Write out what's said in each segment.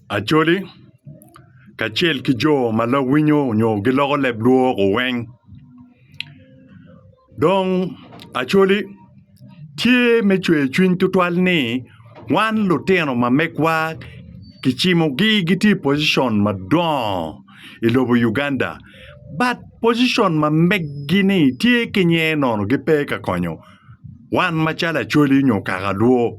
Acholi kacel ki jo ma lawinyo nyo giloko leb lwok oweng. Dong Acholi tye me cwer cwiny twatwal ni wan lutino ma megwa kicimogi gitye i pocition madongo i lobo Uganda bat pocition ma meggi-ni tye ki nyer nono gipe ka konyo wan macalo Acholi nyo Kakalwo.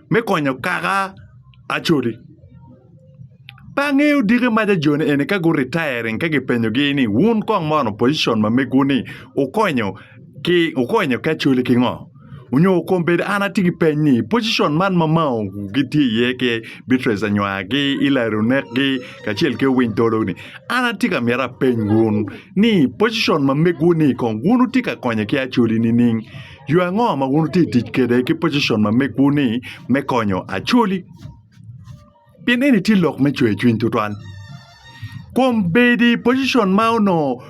me konyo kaka Acholi. Pe angeyo diki maca joni eni ka gu retiring ka gi penyo gi ni wun kong mono position ma megwu ni wukonyo ki wukonyo ki Acholi ki ngo? Onyo kong bed an atye ki peny ni position man ma mao gi tye iye ki Beatrice Anywar ki Hillary Onek gi kacel ki Owiny Tolo ni an atye ka mito apeny wun ni position ma megwu ni kong wun wutye ka konyo ki Acholi nining? Yo ango ma wun wutye ka tic kwede ki pocicon ma megwu-ni me konyo Acholi? Pien eni tye lok me cwer cwiny tutwal. Kom bedo i pocicon ma onongo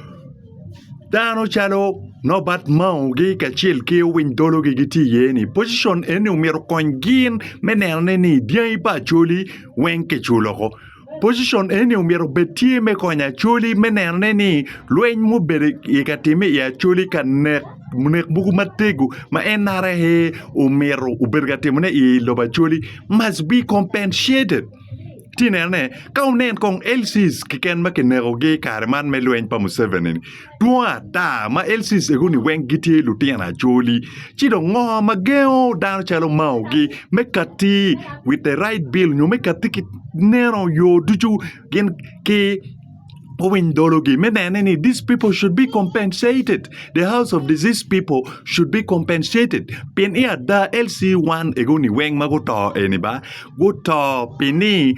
dano calo Norbert Mauge kacel ki owiny dologi gitye iye-ni, pocicon eni omyero okony gin me neno ni dyangi pa Acholi weng kiculo woko. Pocition eni omyero obed tye me konyo Acholi me nenone ni lweny mubedo i ka time i Acholi ka nek nek mogo matego ma NRA omyero obedo ka timone i lobo Acholi must be compensated. Iti nenone ka wunen kong LCs keken ma kinekogi i kare man me lweny pa Museveni-ni. Dwong ata ma LCs egoni weng gitye lutino acholi. Ci dong ngo ma gengo dano calo Mao gi me kati with the right bill nyo me kati ki neno yo ducu gin ki owiny dologi me nene ni these people should be compensated the house of disease people should be compensated pien i ada LC1 egoni weng ma guto eni ba guto pi ni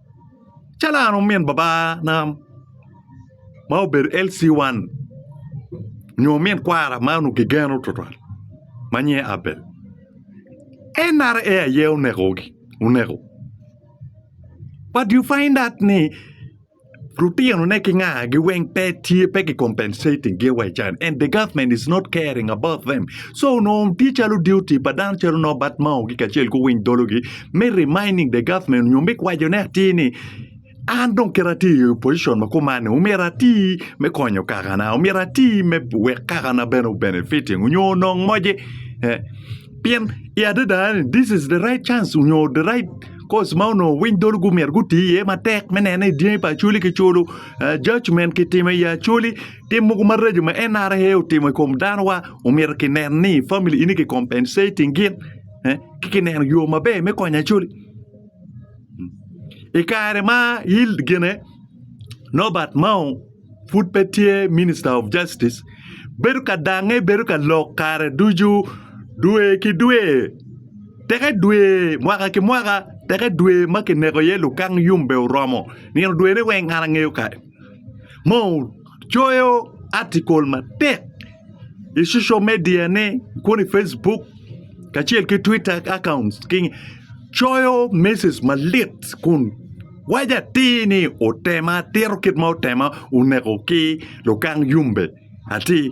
calo an omin babana ma obedo LC one nyo omin kwara ma onongo kigeno tutwal ma nyinge Abel NRA aye onekogi oneko but you find out ni lutinone ki ngagi weng pe tye pe ki compensating gi wa i can and the government is not caring about them so onongo tye calo duty pa dano calo nongo batmango-gi kacel ki owiny dologi me reminding the government nyo me kwaco ne atir ni an dong kit atye i opposition ma kuman ni omyero atir me konyo kaka na omyero atir me wek kaka na bene o benefiting onyo onong moce pien i adada ni this is the right chance onyo the right course ma onongo owiny dolo gumyero gutir iye matek me neno ni dyangi pa acholi ki culo judgement ki timo i acholi tim mogo maraco ma NRA otimo i kom dano wa omyero ki neno ni family ini ki compensating gin. eh, ki kineno yo maber me konyo Acholi. I kare ma Yield gine Norbert Mao pud pe tye Minister of Justice, bedo ka dange, bedo ka lok kare ducu, dwe ki dwe, teke dwe, mwaka ki mwaka, teke dwe ma kineko iye lukang yumbe oromo, nino dwene weng an angeyo kare. Mao coyo atikul matek i social media ne kodi Facebook kacel ki Twitter accounts coyo message malit kun waco atir ni otema atira kit ma otema oneko ki lukang yumbe atir.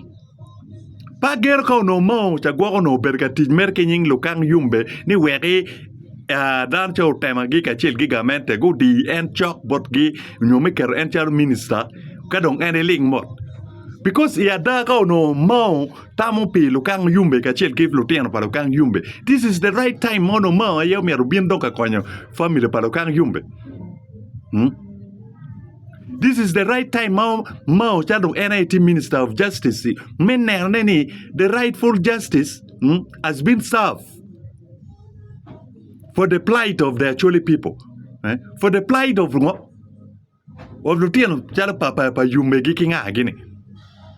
Pa gero ka onongo ma cagwok onongo obedo ka tic mere ki nying lukang yubbe ni weki dano ca otemagi kacel ki gamente gudi en cok botgi nyo me keto en calo minista ka dong en iling mot bikos i ada ka onongo mao tamo pi lukang yubbe kacel ki lutino pa lukang yubbe dis is de rait taim ma onongo mao aye myero obin dong ka konyo famili pa lukang yubbe. This is the right time ma ma ocalo dong en aye tye minister of justice me nenone ni the rightful justice mm, has been served for the plight of the Acholi people eh? for the plight of ngo of lutino calo pa pa pa yummegi ki ngagi ni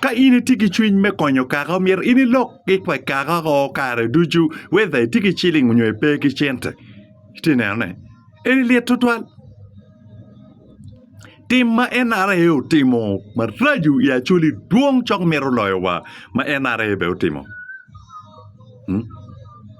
Ka in itye ki cwiny me konyo kaka omyero in ilok ki pa kaka o kare ducu whether itye ki ciling nyo pe ki cente iti neno ne eni lit twatwal tim ma NRA otimo maraco i Acholi dwong cok mito loyo wa ma NRA bene otimo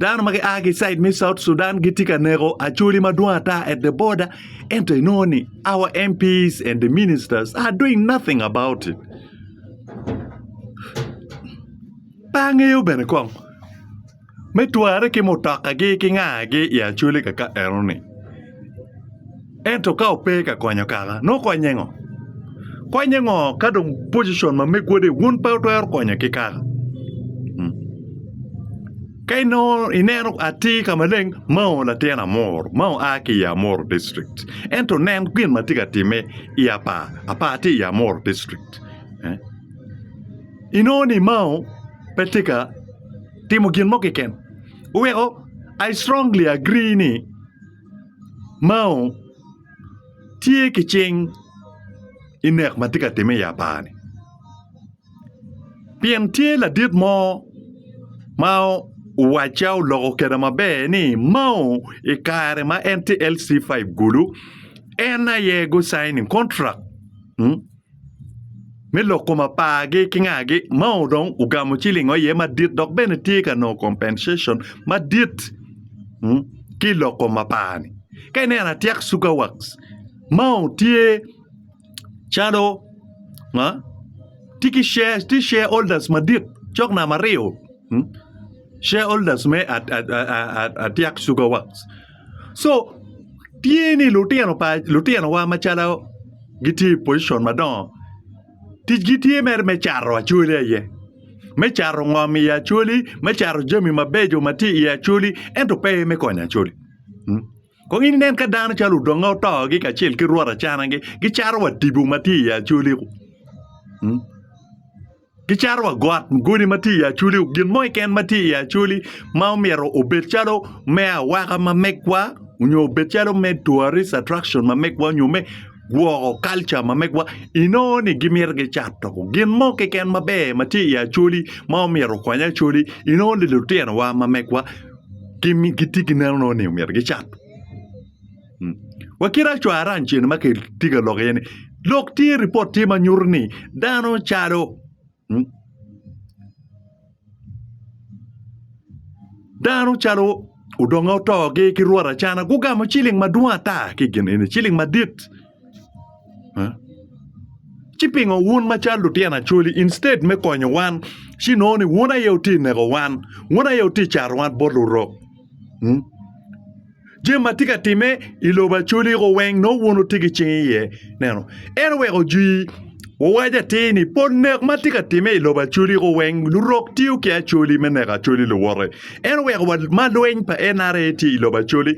Dano ma gia ki i caid me South Sudan gitye ka neko acholi madwong ata at the border ento inongo ni our MPs and the ministers are doing nothing about it. Pe angeyo bene kong me twarre ki mutokagi ki ngagi i acholi kaka enoni. ento ka ope ka konyo kaka nongo konye ngo? Konye ngo ka dong pocition ma me godi wun pe wutwero konye ki kaka ka inongo ineno atir ka maleng mao latin Amuru ma oa ki i Amuru district ento nen gin ma tye ka timme i Apaa, Apaa tye i Amuru district inongo ni mao pe tye ka timo gin mo keken weko I strongly agree ni Mao tye ki cing i nek ma tye ka timme i apani pien tye ladit mo ma owacca oloko kwede maber ni Mao i kare ma en tye LC5 kulu en aye gucainin kontrak. me loko mapargi ki ngagi ma dong ogamo ciling o iye madit dok bene tye ka nongo compensation madit ki i loko mapar-ni ka ineno atyek cuka wax ma tye calo tye ki share tye share holders madit cok namba aryo share holders me atyek cuka wax. so tye ni lutino pa lutinowa macalo gitye i pocition madongo ticgi tye mere me cato acwali aye me cato ngom i acwali me cato jami mabeco ma tye i acwali ento pe me konyo acwali kong inen ka dano calo odonge otogi kacel ki rwot acanagi gicato wa tipo ma tye i acwali-ku. Gicato wa got, godi ma tye i Acholi, gin mo keken ma tye i Acholi ma omyero obed calo me awaka ma megwa nyo obed calo me tourist attraction ma megwa nyo me gwoko culture ma megwa inongo ni gimito gicato. Gin mo keken maber ma tye i Acholi ma omyero okony Acholi inongo ni lutinowa ma megwa gitye ki neno ni omyero gicat. Wa kit acwaran cen ma kitye ka lok iye ni lok tye ripot tye ma nyuto ni dano calo dano calo odongo otogi ki rwot acana gugamo ciling madwong ata ki i kin eni ciling madit ci pingo wun macalo lutino acholi instead me konyo wan ci inongo ni wun aye wutye ka neko wan wun aye wutye ka cato wan bot lurok. Jami ma tye ka timme i lobo Acholi weng nongo wun wutye ki cing iye ineno en oweko ojwi owaco atir ni pol nek ma tye ka timme i lobo Acholi weng lurok tiyo ki Acholi me neko Acholi luwote en oweko ma lweny pa NRA tye i lobo Acholi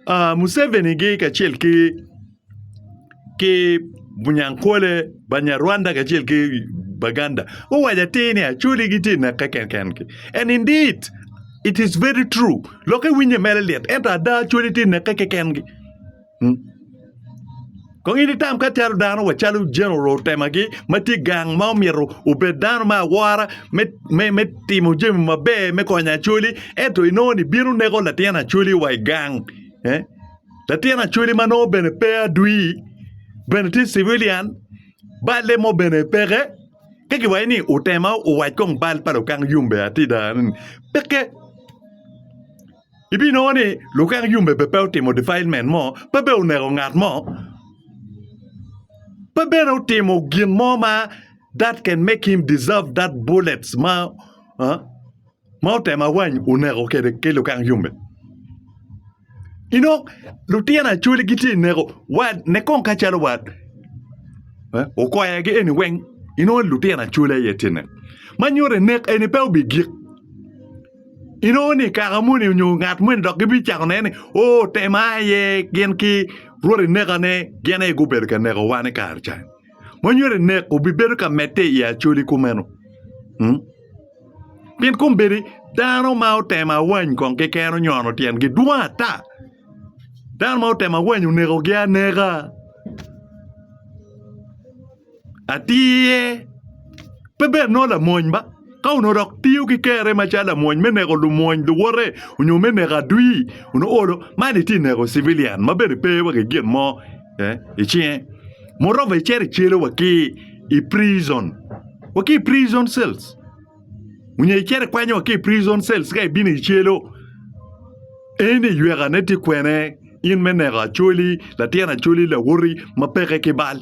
Museveni-gi kacel ki ki Bunyankole, Banyarwanda kacel ki Baganda guwaco atir ni Acholi gitye i neke kenkengi and indeed it is very true lok iwinye mere lit ento ada Acholi tye i neke kekengi kong in itam ka calo dano wa calo General Otemagi ma tye gang ma omyero obed dano me awora me timo jami maber me konyo Acholi ento inongo ni bino neko latin Acholi wa i gang. Latin Acholi ma nongo bene pe adwi bene tye civilian, balle mo bene peke. Ka giwaco ni otema owac kong bal pa lukang yumbe atida ni peke. Ibinongo ni lukang yumbe bene pe otimo defilement mo, pe bene oneko ngat mo, pe bene otimo gin mo ma that can make him deserve that bullets ma ma otemo awany oneko kede ki lukang yombe inongo lutino acholi gitye ineko wat ne kong kacalo wat okoyagi eni weng inongo lutino acholi aye tye ineko ma nyuto ni nek eni pe obigik inongo ni kaka moni nyo ngat moni dok gibicako neno ni oo otemo aye gin ki rwod enekane gin aye gubedo ka neko wa ni kare cani. ma nyo eni nek obibedo ka medde i Acholi kumeno. Mm? Pien kombeddi dano ma otemo awany kong keken onyono tyengi dwong ata. Dano ma otemo awany onekogi aneka. Atir pe bed nongo lamony ba. Ka onongo dok tiyo ki kerre macalo lamwony me neko lumwony luwote onyo me neko adwi, onongo olo man itye neko civilian ma bene pe wa ki gin mo i cinge. Moreover icito icelo wa ki i prison, wa ki i prison cells onyo icito ikwanyo wa ki i prison cells ka ibino icelo, eni ywekane tye kwene in me neko acholi, latyeno acholi, lawoti ma peke ki bal?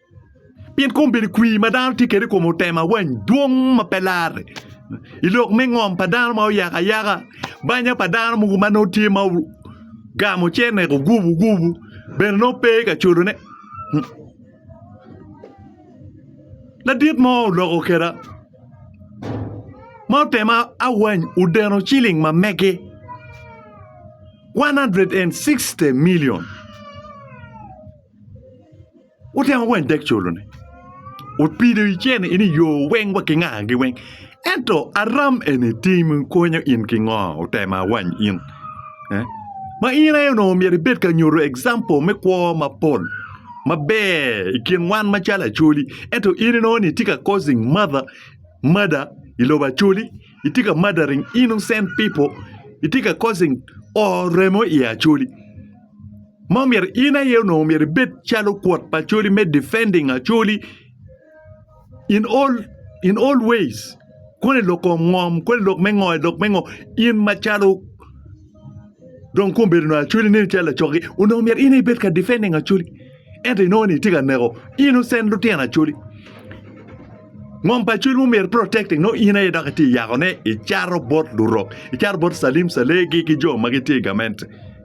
Pien kom bedo kwir ma dano tye kwede i kom otem awany dwong ma pe larre. I lok me ngom pa dano ma oyako ayaka, banya pa dano mogo ma nongo tye ma ogamo cente ogubu gubu bene nongo pe ka culone. Ladit mo oloko kweda ma otem awany odeno ciling ma mege 160 milion. Otemo weny dek colone. Opido i cene ini yo weng wa ki nga gi weng. Ento aram eni tim konyo in ki ngo otema wany in. Eh? Ma in aye onongo myero ibed ka nyuto example me kwo mapol maber i kin wan macalo acholi ento in inongo ni itye ka causing mother murder i lobo acholi itye ka murdering innocent people itye ka causing oo remo i acholi. ma omyero in aye onongo myero ibed calo kwot pa Acholi me defending Acholi in all in all ways koni lok kom ngom koni lok me ngo lok me ngo in macalo dong kong bedo nongo Acholi neni calo lacoki onongo myero in aye ibed ka defending Acholi ento inongo ni itye ka neko innocent lutino Acholi ngom pa Acholi ma omyero protecting nongo in aye dok itye ka yakone icato bot Lurok icato bot Salim Salegi ki jo ma gitye i gamente.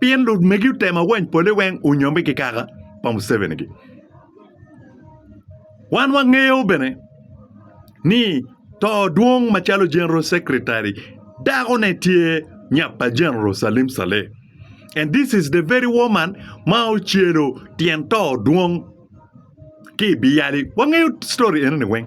Pien lumegi otemo awany pole weng onyombe ki kaka pa Museveni gi. Wan wangeyo bene ni to dwong macalo General Secretary dako ne tye nyap pa General Salim Saleh and this is the very woman ma ocelo tyen to dwong ki biyali. Wangeyo story eno ni weng.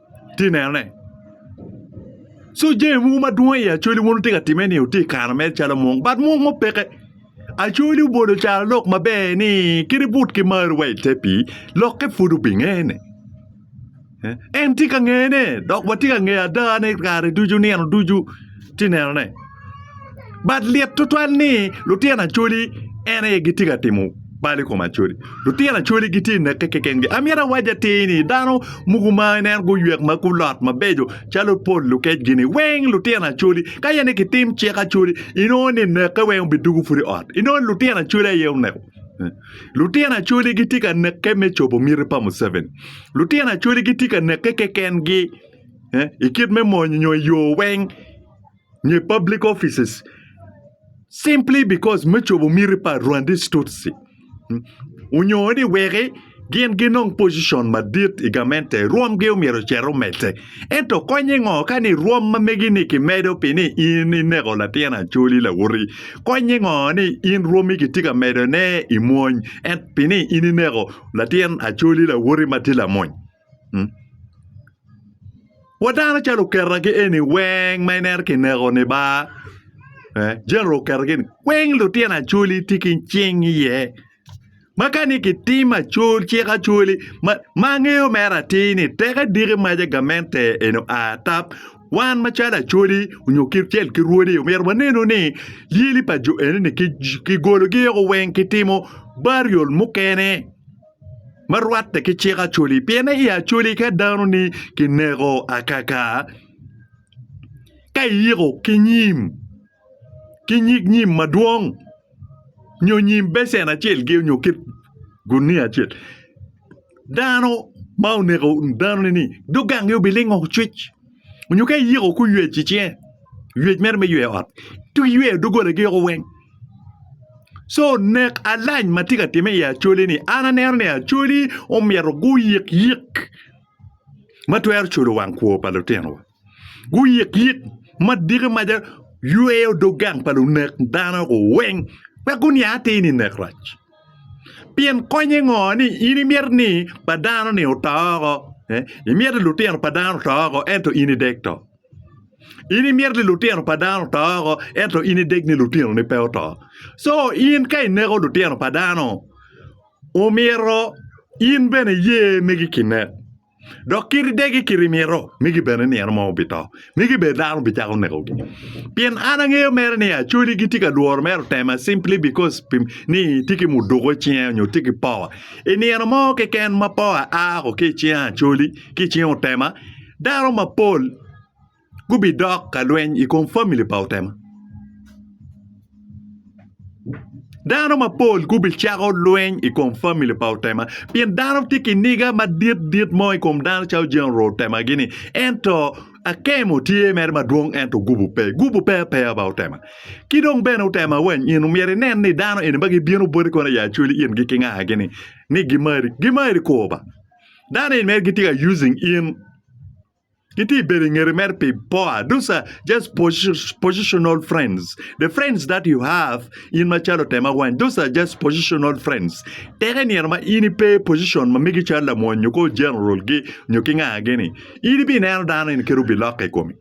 tye nenone. So jami mogo madwong i Acholi wun wutye ka timme ni wutye ka kano mere calo mung but mung mo peke. Acholi obolo caro lok maber ni kit ibut ki marri wa ite pii lokke pud obingene. En tye ka ngene dok watye ka ngeyo ada ni kare ducu nino ducu. Tye nenone. But lit tutwal ni lutino Acholi en aye gitye ka timo bal i kom Acholi. Lutino Acholi gitye neke kekengi. Amyero awac atir ni dano muku ma ineno guywek ma gulot mabeco calo Paul Lukec-gi ni weng lutino Acholi. Ka aye ni kitim cik Acholi, inongo ni neke weng obidugu pud i ot. Inongo ni lutino Acholi aye oneko. Lutino Acholi gitye ka neke me cobo miti pa Museveni. Lutino Acholi gitye ka neke kekengi. i kit me mony nyo i yo weng nyo i public offices simply because me cobo miti pa rwandis tutsi onyo ni weki gin ginong pocion madit i gamente rwomgi myero ocit omedde ento konye ngo ka ni rwom ma megi-ni kimedo pi ni in ineko latin acholi lawoti konye ngo ni in rwomi kitye ka medone i mwony ento pi ni in ineko latin acholi lawoti ma tye lamony. Wa dano calo oketagi eni weng ma ineno kineko ni ba General oketo gini weng lutino acholi tye ki cing iye ma ka ni kitim acol cik acoli ma angeyo mere atir ni tek adiki maca gamente eni oa ata wan macalo acoli nyo kacel ki rwodi myero wanenu ni lyeli pa jo enoni kigologi woko weng kitimo burial mukene. ma rwatte ki cik Acholi pien i Acholi ka dano-ni kineko akaka ka iyiko ki nyim ki nyig nyim madwong nyo nyim becen acel nyo kit gunia acel dano ma oneko dano-ni ni dugangi obilingo cwic. nyo ka iyiko kuyec i cinge yec mere me yweyo ot ci wiyweyo doggolagi woko weng co nek alac ma tye ka timme i acolini an aneno ni acoli omyero guyik yik ma twero culo wang kwo pa lutinowa guyik yik ma diki maca yweyo dog gang pa lunek dano weng wek guniang atir ni nek rac. Pien konye ngo ni in imito ni pa dano ni oto oko? Imito ni lutino pa dano oto oko ento in idek to? In imito ni lutino pa dano oto oko ento in ideg ni lutinoni pe oto? Co in ka ineko lutino pa dano omyero in bene iye megi kinek. Dok kit degi kit mito migi bene ni en mo obito, ni gibed dano bicako nekogi. Pien an angeyo mere ni Acholi gitye ka lworo mero tema simply because pi ni tye ki muduko icinge onyo tye ki power. I nino mo keken ma power a o ki icinge Acholi ki icinge Otema, dano mapol gubidok ka lweny i kom famili pa otema. Dano mapol gubicako lweny i kom famili pa otema pien dano tye ki niga madit dit mo i kom dano calo jami orwo otemagi-ni ento akemo tye mere madwong ento gubu pe gubu pe apeya ba otema. Ki dong bene otema wa nino myero inen ni dano eni ma gibino boti kono i acwali in ki ngagi-ni ni gimari, gimari kwo ba dano eni mere gitye ka using in. Gitye i bedo i ngete mere pi poa. Those are just positional friends. The friends that you have in macalo tema wany, those are just positional friends. Teke nino ma in ipe position ma migi calo lamony nyo ko general gi nyo ki nga gini. In ibi neno dano in kiro bi lokke i komi.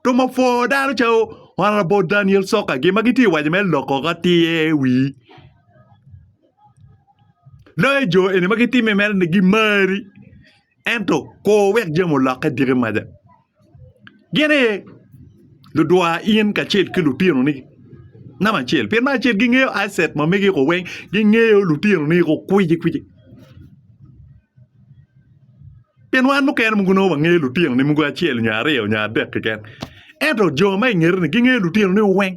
To ma for dano calo Honorable Daniel Soka gi ma gitye wajo me loko ka tiye wi. Loyo jo eni ma gitime mere ni gimari. ento kur wek jami olokke diki maja. Gin aye ludwa in kacel ki lutinoni namba acel pien namba acel gingeyo asset ma megi iko weng gingeyo lutinoni iko kwiji kwiji pien wan mukene mogo nongo wangeyo lutinoni mogo acel nyo aryo nyo adek keken ento jo ma ingeteni gingeyo lutinoni weng.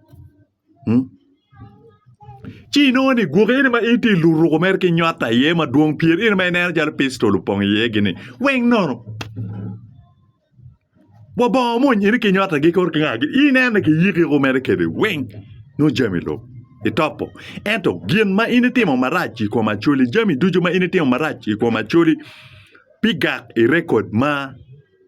Ci inongo ni gwoki eni ma in tye ka luruko mere ki nywata iye madwong pien in aye ineno calo pistol opong iyegini weng nono. Wa bongo omony in ki nywatagi kor ki ngagi ineno ni kiyikiko mere kwede weng nongo jami lub itopo. Ento gin ma in itimo marac i kom Acholi jami ducu ma in itimo marac i kom Acholi pi gak i rekod ma.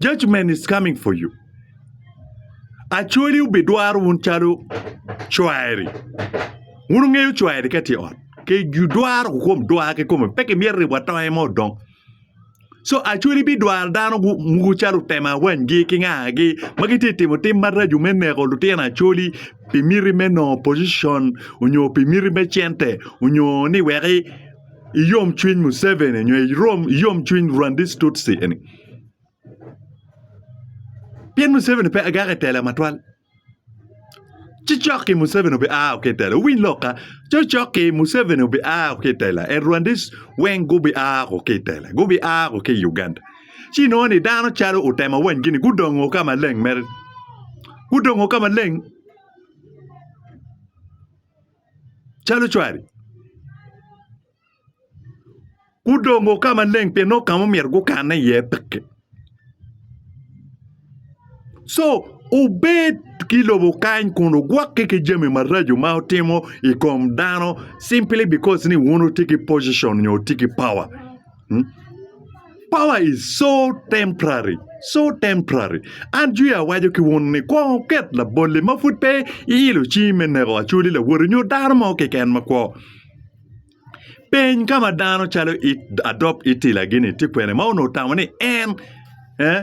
Judgment is coming for you. Acholi obidwaro wun calo cwari. Wun wungeyo cwari ka tye i ot. Ki dwaro kom dwar ki kome pe kimyero ribo atonge mo odong. So acholi bidwaro dano mogo calo otemo awanygi ki ngagi ma gitye ka timo tim maraco me neko lutino acholi pi miti me nongo pocition onyo pi miti me cente onyo ni wek i yom cwiny Museveni nyo i yom cwiny Rwandese Tutsi eni. Pien Museveni pe agaka i tela matwal. Ci cokki Museveni obi a ki i tela. Winy lokka. Ci cokki Museveni obi a ki i tela. En Rwandese weng gubi a ki i tela. Gubi a ki i Uganda. Ci nongo ni dano calo utema wany gini gudongo ka maleng mere. Gudongo ka maleng. calo cwari. Gudongo ka maleng pien nongo ka ma omyero gukanne iye peke. Co obed ki i lobo kany kun ogwokke ki jami maraco ma otimo i kom dano simply because ni wun wutye ki position nyo wutye ki power. Power is so temporary, so temporary. An jwi awaco ki wun ni kwong wuket labolli ma pud pe iilo cingi me neko Acholi Lawoti nyo dano mo keken makwo. Peny ka ma dano calo it Adop Itila gini tye kwene ma onongo otamo ni en eh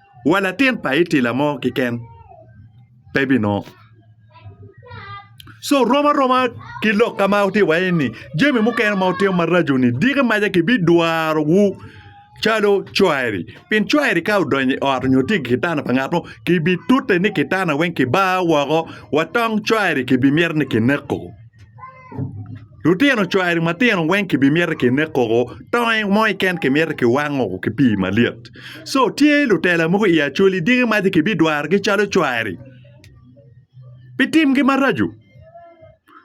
wa latin pa itila mo keken pe binongo. So rom aroma ki lok ka ma wutye iwaye ni jami mukene ma wutimo maraco-ni diki maca kibidwarowu calo cwari. Pien cwari ka odonyo i ot nyo tye i kitanda pa ngat mo, kibitute ni kitanda weng kibar woko wa tong cwari kibimito ni kineko. Lutino cwari matino weng kimito kinek koko tonge mo keken kimito kiwango ki pii malyet so tye lutela mogo i Acholi dyegi maci kibidwarogi calo cwari pi timgi maraco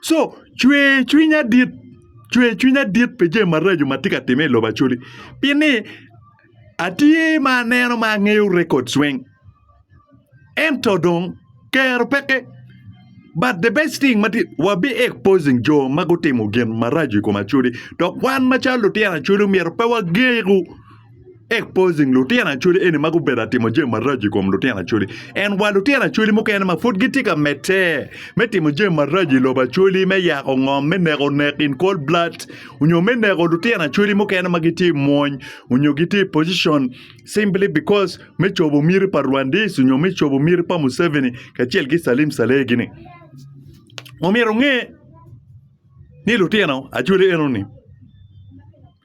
so cwer cwiny adit cwer cwiny adit pi jami maraco ma tye ka timme i lobo Acholi pi ni atye ma aneno ma angeyo records weng. Ento dong kero peke. But the best thing ma tye, wabi exposing jo ma gutimo gin maraco i kom Acholi dok wan macalo lutino Acholi omyero pe wageku exposing lutino Acholi eni ma gubedo ka timo jami maraco i kom lutino Acholi. And wa lutino Acholi mukene ma pud gitye ka medde me timo jami maraco i lobo Acholi me yako ngom, me neko nek in cold blood, onyo me neko lutino Acholi mukene ma gitye i mwony onyo gitye i position. simply because me cobo miti pa Rwandese nyo me cobo miti pa Museveni kacel ki Salim Saleh gini. Omyero onge ni lutino ajoli enoni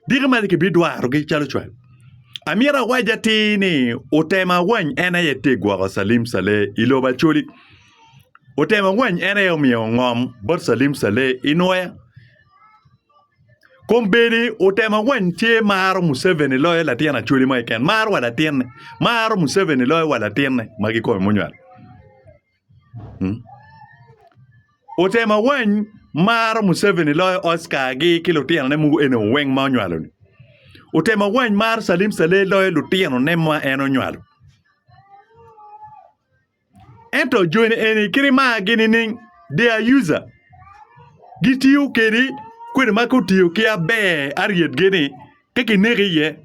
diki mac kibidwarogi calo cwal. Amyero awac atir ni otemo awany en aye te gwoko Salim Saleh i lobo Acholi. Otemo awany en aye omiyo ngom bot Salim Saleh i Nwoya. Kombeddi otemo weny tye maro museveni loyo latin acholi mo keken maro wa latinne maro museveni loyo wa latinne magi kome munywal otemo weny maro museveni loyo Oscar gi ki lutino ne mogo eni weng ma onywalo ni otemo weny maro calim calel loyo lutino ne ma en onywalo Ento joni eni kit margi nining? They are user. Gitiyo kedi kwede ma kutiyo ki aber aryetgi ni ka kineko iye.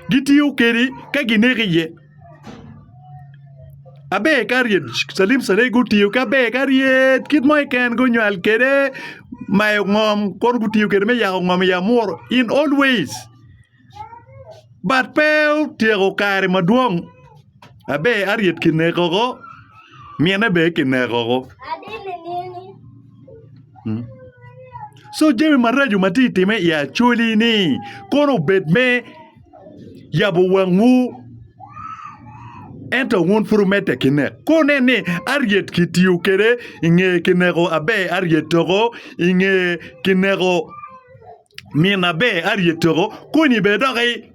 Gitiyo kedi ka gineko iye. Aber ka aryet calim cale gutiyo ki aber ka ryet kit mo keken gunywal kwede mayo ngom kono gutiyo kwede me yako ngom i amuru in always. but pe otyeko kare madwong abe Harriet kineko woko mine bene kineko woko so jami maraco ma tye ka timme i Acholi ni kono obed me yabo wangwu ento wun pud wumedde ki nek ka wunen ni Harriet kitiyo kwede i nge kineko abe Harriet woko i nge kineko min aber aryet toko kony i bene doki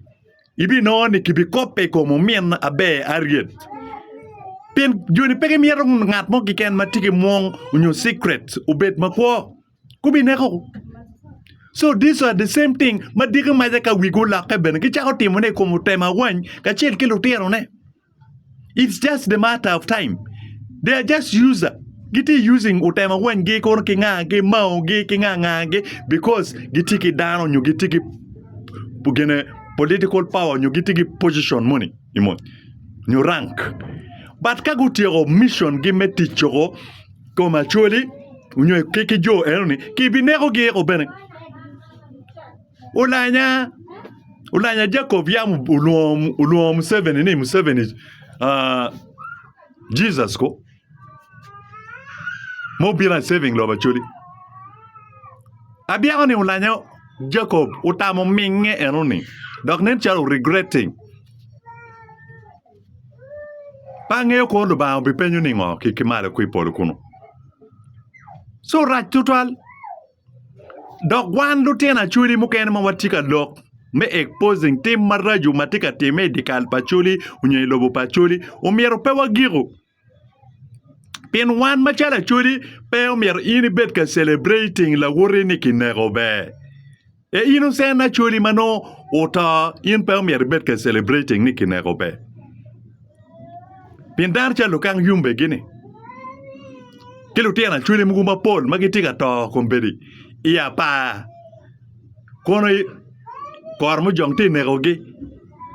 ibinongo ni kibi kope i kom omin aber aryet pien joni pe gimito ngat mo kiken matye ki mwong nyo secret obed makwo gubi neko so this are the same thing madiki maca ka wigi oloke bene gicako timone i kom ote ma wany kacel ki lutino ne. It's just the matter of time. They are just user. Giti using utemo wanygi kono ki ngagi, maogi ki ngangagi because giti ki dano nyo giti ki gine political power nyo giti ki position moni i mony nyo rank. But ka gutyeko mission gi me ticco kom Acholi nyo ki ki jo enoni kibinekogi eko bene. Olanya, olanya Jacob yam olwongo Museveni ni Museveni Jesus ko ma obino a saving lobo Acholi. Abyeko ni olanya Jacob otamo minge eno ni dok nen calo o regretting. Pe angeyo kor Lubanga obipenyo ningo ki malo ki polo kunu. Co rac tutwal. Dok wan lutino acholi mukene ma watye ka lok me exposing tim maraco ma tye ka timme i dyekal pa Acholi nyo i lobo pa Acholi omyero pe wagiko pien wan macalo Acholi pe omyero in ibed ka celebrating lawoti ni kineko ber e innocent Acholi ma nongo oto in pe omyero ibed ka celebrating ni kineko ber. pien dano calo lukang yumbegini ki lutino acholi mogo mapol ma gitye ka to kombeddi i apar kono koro mujong tye ka nekogi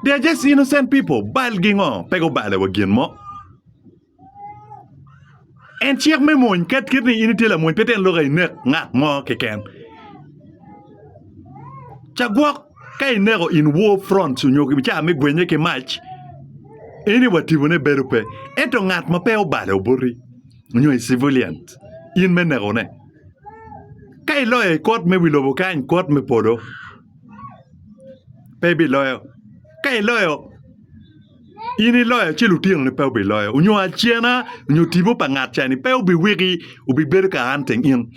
they are just innocent people balgi ngo pe gubalo wa gin mo. En cik me mony. Ket kit ni in itye lamony pe tyen lok inek ngat mo keken. Ca gwok ka ineko in war fronts onyo ki ca me gwenye ki mac, eni wa tibone bedo pe. Ento ngat ma pe obale oboti onyo i civilians, in me nekone. Ka iloyo i kot me wi lobo kany, kot me polo pe ibiloyo. Ka iloyo in iloya ci lutinoni pe biloyo nyo acena nyo tipo pa ngat ca ni pe biwiki bibedo ka an teng in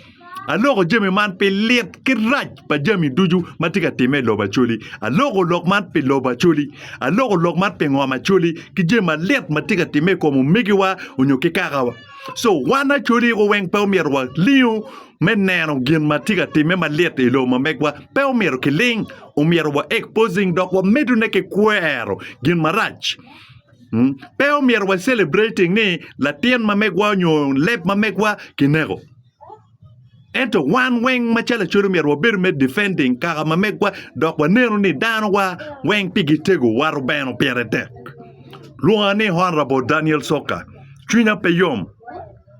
aloko jami man pi lit ki rac pa jami ducu ma tye ka timme i lobo Acholi aloko lok man pi lobo Acholi aloko lok man pi ngom Acholi ki jami malit ma tye ka timme i kom omegiwa nyo ki kakawa co wan Acholi iko weng pe omyero walingo me neno gin ma tye ka timme malit i lobo ma megwa pe omyero kiling Omyero wa exposing dok wa medo ne ki kwero gin marac. Mm, Pe omyero wa celebrating ni latin ma megwa onyo leb ma megwa kineko. Ento wan weng ma calo acodo myero wabedo me defending kaka ma megwa dok wa neno ni dano wa weng pi gi tego wa rubeno pire tek. Lwonga ni Honorable Daniel Soka. Cwinya pe yom.